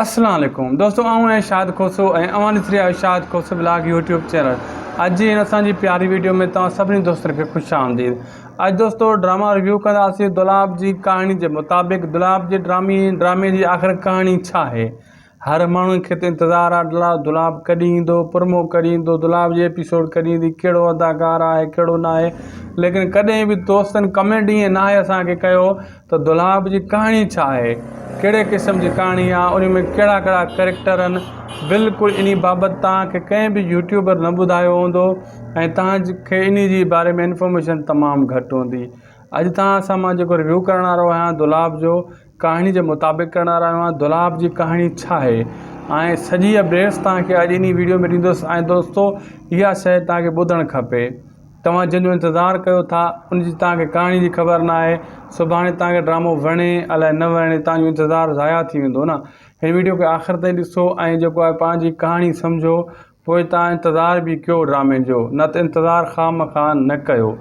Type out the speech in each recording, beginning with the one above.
اسلام عليڪم دوستو آئون آهيان شاد کوسو ۽ اوهان ڏسي رهيا آهيو Shad Khoso blog YouTube channel اڄ جي هن اسان جي پياري ويڊيو ۾ توهان سڀني دوستن کي خوش آمديد اڄ دوستو ڊراما ريويو ڪنداسين دولاب جي ڪهاڻي جي مطابق دولاب جي ڊرامي ڊرامي جي آخر ڪهاڻي ڇا آهي هر ماڻهو کي ته انتظار آهي دولاب ڪڏهن ايندو پرمو ڪڏهن ايندو دولاب جي ايپيسوڊ ڪڏهن ايندي ڪهڙو اداڪار آهي ڪهڙو ناهي ليڪن ڪڏهن به دوستن ڪمينٽ ائين ناهي اسان کي ڪيو ته دولاب جي ڪهاڻي ڇا آهي، ڪهڙي قسم جي ڪهاڻي آهي، انهي ۾ ڪهڙا ڪهڙا ڪريڪٽر آهن، بلڪل انهي بابت توهان کي ڪنهن به يوٽيوبر نه ٻڌايو هوندو ۽ توهان کي انهي جي باري ۾ انفارميشن تمام گهٽ هوندي. اڄ توهان سان مان جيڪو ريويو ڪرڻ وارو آهيان دولاب جو ڪهاڻي جي مطابق ڪرڻ وارو آهيان ۽ دولاب جي ڪهاڻي ڇا آهي ۽ سڄي اپڊيٽس توهان کي اڄ انهي ويڊيو ۾ ڏيندس ۽ دوستو اها شئي توهان کي ٻڌڻ کپي. توهان جنهن جو انتظار ڪيو ٿا ان جي توهان کي ڪهاڻي جي خبر نه آهي سڀاڻي توهان کي ڊرامو وڻي الائي نه وڻي توهان جو انتظار ضايع ٿي ويندو نه هن ويڊيو کي آخر تائين ڏسو ۽ جيڪو آهي پنهنجي ڪهاڻي سمجهو پوء توهان انتظار به ڪيو ڊرامي جو نه ته انتظار خامخواه نه ڪيو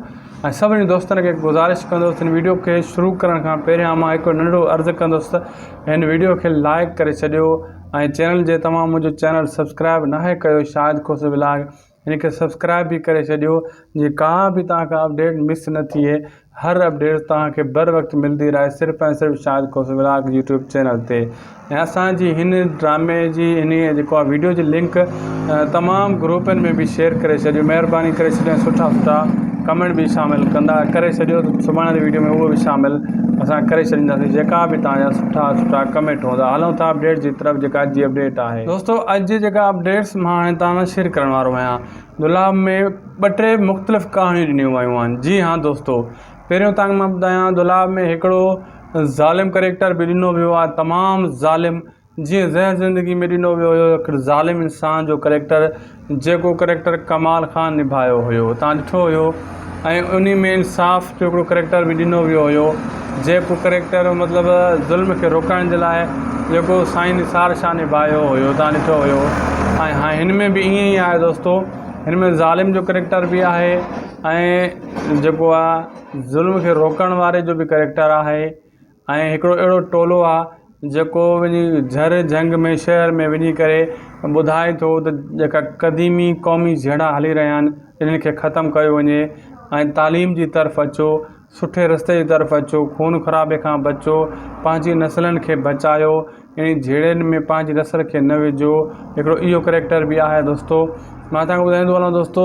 ۽ سڀني دوستن کي گذارش ڪندس هن ويڊيو کي شروع ڪرڻ کان پهريان مان هڪ ننڍڙو عرض ڪندس ته هن ويڊيو کي لائڪ ڪري ڇڏيو ۽ چينل جي توهان منهنجو چينل سبسڪرائب ناهي ڪيو شاهد کوسي ولاگ هن کي سبسڪرائب به ڪري ڇڏيو جي ڪا به توهان کان اپڊيٽ مس نه ٿئي هر اپڊيٽ توهان کي بر وقت ملدي رهي صرف ۽ صرف شاهد کوسي ولاگ يوٽيوب چينل تي ۽ اسان جي هن ڊرامي جي هن جيڪو آ ويڊيو جي لنڪ تمام گروپن ۾ به شيئر ڪري ڇڏيو مهرباني ڪري ڇڏيو سٺا سٺا ڪمينٽ به شامل ڪندا ڪري ڇڏيو سڀاڻي جي ويڊيو ۾ اهو به شامل اسان ڪري ڇڏينداسين جيڪا به توهان جا سٺا سٺا ڪمينٽ هوندا هلون ٿا اپڊيٽ جي طرف جيڪا اڄ جي اپڊيٽ آهي دوستو اڄ جي جيڪا اپڊيٽس مان هاڻي توهان سان شيئر ڪرڻ وارو آهيان دولاب ۾ ٻه ٽي مختلف ڪهاڻيون ڏنيون ويون آهن جي ها دوستو پهريون توهان مان ٻڌايان دولاب ۾ هڪڙو ظالم ڪريڪٽر به ڏنو ويو آهي تمام ظالم جيئن زهر زندگي ۾ ڏنو ويو هيو هڪڙو ظالم انسان جو ڪريڪٽر جيڪو ڪريڪٽر ڪمال خان نڀايو هيو تان ڏٺو هيو ۽ انهي ۾ انصاف جو هڪڙو ڪريڪٽر به ڏنو ويو هيو جيڪو ڪريڪٽر مطلب ظلم کي روڪڻ جي لاء جيڪو سائين نثار شاهه نڀايو هيو تان ڏٺو هيو ۽ هاڻي هن ۾ به ائين ئي آهي دوستو هن ۾ ظالم جو ڪريڪٽر به آهي ۽ جيڪو آ ظلم کي روڪڻ واري جو به ڪريڪٽر آهي ۽ هڪڙو اهڙو ٽولو آ جيڪو وڃي جھر جھنگ ۾ شهر ۾ وڃي ڪري ٻڌائي ٿو ته جيڪا قديمي قومي جهيڙا هلي رهيا آهن انهن کي ختم ڪيو وڃي ۽ تعليم جي طرف اچو سٺي رستي جي طرف اچو خون خرابي کان بچو پنهنجي نسلن کي بچايو انهن جهيڙن ۾ پنهنجي نسل کي نه وجهو هڪڙو اهو ڪريڪٽر به آهي دوستو مان تنهن کان ٻڌائيندو هلان دوستو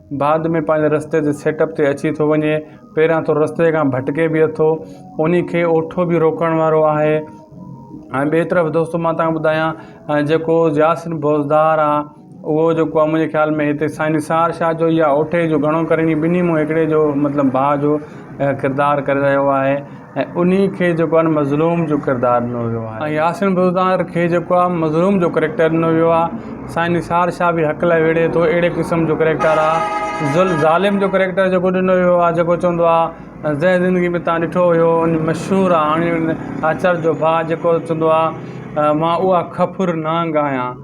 بعد ۾ پنهنجي رستي جي سيٽ اپ تي اچي ٿو وڃي پهريان ٿورو رستي کان ڀٽڪي به اٿو انهي کي اوٺو به روڪڻ وارو آهي ۽ ٻي طرف دوستو مان تهان ٻڌايان جيڪو ياسين بوزدار آ اهو جيڪو آ منهنجي خيال ۾ هتي سائين نثار شاهه جو يا اوٺي جو گهڻو ڪري ٻنهي مون هڪڙي جو مطلب ڀاء جو ڪردار ڪري رهيو آهي ۽ انهي کي جيڪو آهي مظلوم جو ڪردار ڏنو ويو آهي ۽ ياسين بزدار کي جيڪو آهي مظلوم جو ڪريڪٽر ڏنو ويو آهي سائين نثار شاهه به حق لاء وڙهي ٿو اهڙي قسم جو ڪريڪٽر آهي ظلم ظالم جو ڪريڪٽر جيڪو ڏنو ويو آهي جيڪو چوندو آهي زهر زندگي ۾ تان ڏٺو هيو ان مشهور آهي هاڻي ان آچر جو ڀاء جيڪو چوندو آهي مان اها کڦر نانگ آهيان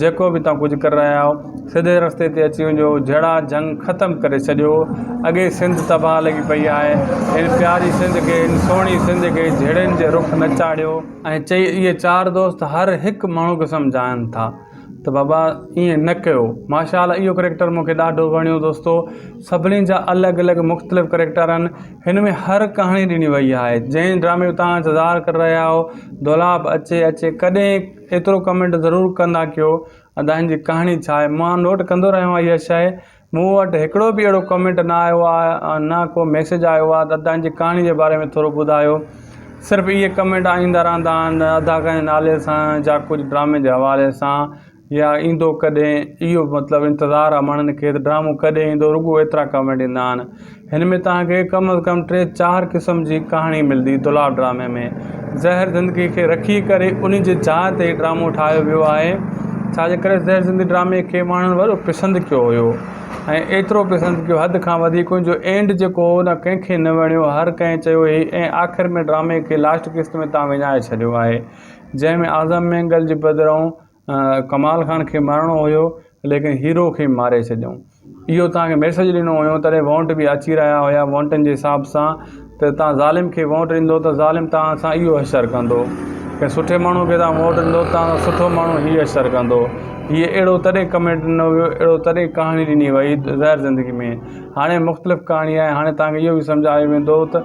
جيڪو به توهان ڪجهه ڪري رهيا آهيو سڌي رستي تي اچي وڃجو جهيڙا جهنگ ختم ڪري ڇڏيو اڳي ئي سنڌ تباهه لڳي پئي آهي هن پياري سنڌ کي هن سهڻي سنڌ کي جهيڙن جي رخ نه چاڙهيو. ائين چئي اهي چار دوست هر هڪ ماڻهو کي سمجهائن ٿا ته بابا ائين نه ڪيو ماشاء الله اهو ڪريڪٽر مون کي ڏاڍو وڻيو دوستو سڀني جا الڳ الڳ مختلف ڪريڪٽر آهن هن ۾ هر ڪهاڻي ڏني وئي آهي جنهن ڊرامي جو توهان انتظار ڪري رهيا آهيو دولاب اچي اچي ڪڏهن ايترو ڪمينٽ ضرور ڪندا ڪيو ادائين جي ڪهاڻي ڇا آهي مان نوٽ ڪندو رهيو آهيان اها شئي مون وٽ هڪڙو به اهڙو ڪمينٽ نه آيو آهي ۽ نه ڪو ميسيج آيو آهي ته ادائين جي ڪهاڻي جي باري ۾ ٿورو ٻڌايو صرف اهي ڪمينٽ ايندا رهندا آهن ادا ڪنهن نالي سان جا ڪجهه ڊرامي جي حوالي سان يا ايندو ڪڏهن اهو مطلب انتظار آهي ماڻهن کي ته ڊرامو ڪڏهن ايندو رڳو ايترا ڪمينٽ ايندا آهن هن ۾ توهان کي ڪم از ڪم ٽي چار قسم جي ڪهاڻي ملدي. دولاب ڊرامي ۾ زهر زندگي کي رکي ڪري انهي جي جاء تي هي ڊرامو ٺاهيو ويو آهي. ڇا جي ڪري زهر زندگي ڊرامي کي ماڻهن وڏو پسند ڪيو هيو ۽ ايترو پسند ڪيو حد کان وڌيڪ ان جو اينڊ جيڪو هو نه ڪنهن کي نه وڻيو هر ڪنهن چيو هي ۽ آخر ۾ ڊرامي کي لاسٽ قسط ۾ توهان وڃائي ڇڏيو آهي جنهن ۾ اعظم مينگل جي بدرئون ڪمال خان کي مارڻو هيو ليڪن هيرو کي ماري ڇڏيائون اهو تنهن کي ميسج ڏنو هيو تڏهن وونٽ به اچي رهيا هيا وونٽن جي حساب سان ته تنهن ظالم کي وونٽ ڏيندو ته ظالم تنهن سان اهو حشر ڪندو ڪنهن سٺي ماڻهو کي تنهن وونٽ ڏيندو ته تنهن سان سٺو ماڻهو هي حشر ڪندو هي اهڙو تڏهن ڪمينٽ ڏنو هيو اهڙو تڏهن ڪهاڻي ڏني وئي ظاهر زندگي ۾ هاڻي مختلف ڪهاڻي آهي هاڻي تنهن کي اهو به سمجهايو ويندو ته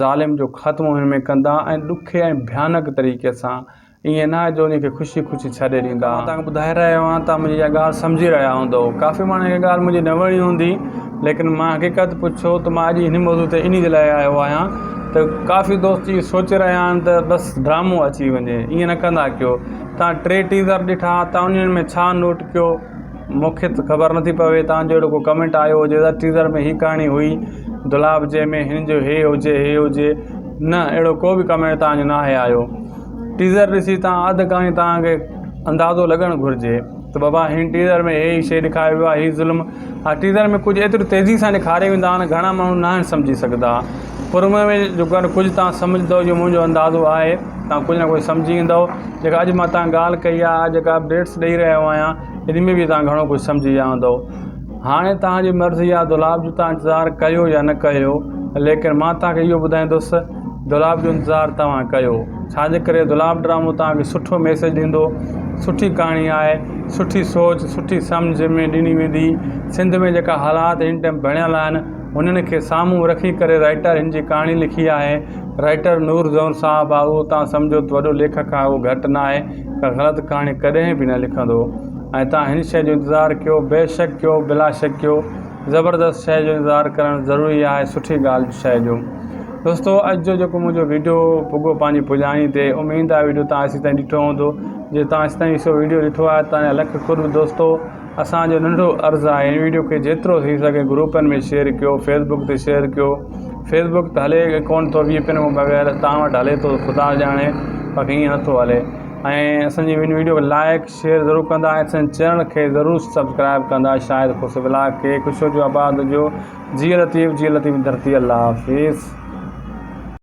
ظالم جو خاتمو هن ۾ ڪندا ۽ ڏکي ۽ ڀيانڪ طريقي سان ائين نه آهي جو ان کي خوشي خوشي ڇڏي ڏيندا. مان توهان کي ٻڌائي رهيو آهيان توهان منهنجي اها ڳالهه سمجهي رهيا هوندؤ ڪافي ماڻهن کي اها ڳالهه منهنجي نه وڻي هوندي ليڪن مان حقيقت پڇو ته مان اڄ هن موضوع تي انهي جي لاء آيو آهيان ته ڪافي دوست اهو سوچي رهيا آهن ته بس ڊرامو اچي وڃي ائين نه ڪندا ڪيو توهان ٽي ٽيزر ڏٺا توهان انهن ۾ ڇا نوٽ ڪيو مون کي ته خبر نٿي پوي توهان جو اهڙو ڪو ڪمينٽ آيو هجي ته ٽيزر ۾ هي ڪهاڻي هئي دولاب جي ۾ هن جو هي هجي هي هجي نه اهڙو ڪو بي ڪمينٽ توهان جو ناهي آيو ٽيزر ڏسي توهان اڌ ڪهاڻي توهان کي اندازو لڳڻ گهرجي ته بابا هن ٽيزر ۾ هي شي ڏيکاري ويو آهي هي ظلم ها ٽيزر ۾ ڪجهه ايتري تيزي سان ڏيکاري ويندا آهن گهڻا ماڻهو ناهن سمجهي سگهندا پرمئي ۾ جيڪڏهن ڪجهه توهان سمجهندؤ جو منهنجو اندازو آهي توهان ڪجهه نه ڪجهه سمجهي ويندؤ جيڪا اڄ مان توهان ڳالهه ڪئي آهي آء جيڪا اپڊيٽس ڏئي رهيو آهيان ان ۾ به توهان گهڻو ڪجهه سمجهي ويا هوندؤ هاڻي توهانجي مرضي آهي دولاب جو توهان انتظار ڪيو يا نه ڪيو ليڪن مان توهانکي اهو ٻڌائيندس دولاب جو انتظار توهان ڪيو ڇاجي ڪري دولاب ڊرامو توهانکي سٺو ميسيج ڏيندو سٺي ڪهاڻي آهي سٺي سوچ سٺي سمجهه ۾ ڏني ويندي سنڌ ۾ جيڪا حالات هن ٽائيم بڻيل آهن انهن کي سامهون رکي ڪري رائٽر هن جي ڪهاڻي لکي آهي. رائٽر نور زئون صاحب آهي اهو توهان سمجهو ته وڏو ليکڪ آهي اهو گهٽ نه آهي. ڪا غلط ڪهاڻي ڪڏهن به نه لکندو ۽ توهان هن شيء جو انتظار ڪيو بيشڪ ڪيو بلا شڪ ڪيو زبردست شيء جو انتظار ڪرڻ ضروري آهي سٺي ڳالهه جو شيء جو. دوستو اڄ جو جيڪو منهنجو ويڊيو پڳو پنهنجي پڄاڻي تي اميد آهي ويڊيو توهان ايسي تائين ڏٺو هوندو جي توهان ايسي تائين سو ويڊيو ڏٺو آهي توهان جا لک قرب دوستو. اسان جو ننڍو عرض آهي هن ويڊيو کي جيترو ٿي سگهي گروپن ۾ شيئر ڪيو فيسبڪ تي شيئر ڪيو فيسبڪ ته هلي ڪون ٿو وي پين بغير تان وٽ هلي ٿو خدا ڄاڻي باقي ائين نٿو هلي ۽ اسان جي هن ويڊيو کي لائق شيئر ضرور ڪندا ۽ اسان چينل کي ضرور سبسڪرائب ڪندا شاهد خوش بلاگ کي خوش هجو آباد هجو جي لطيف جي لطيف ڌرتي الله حافظ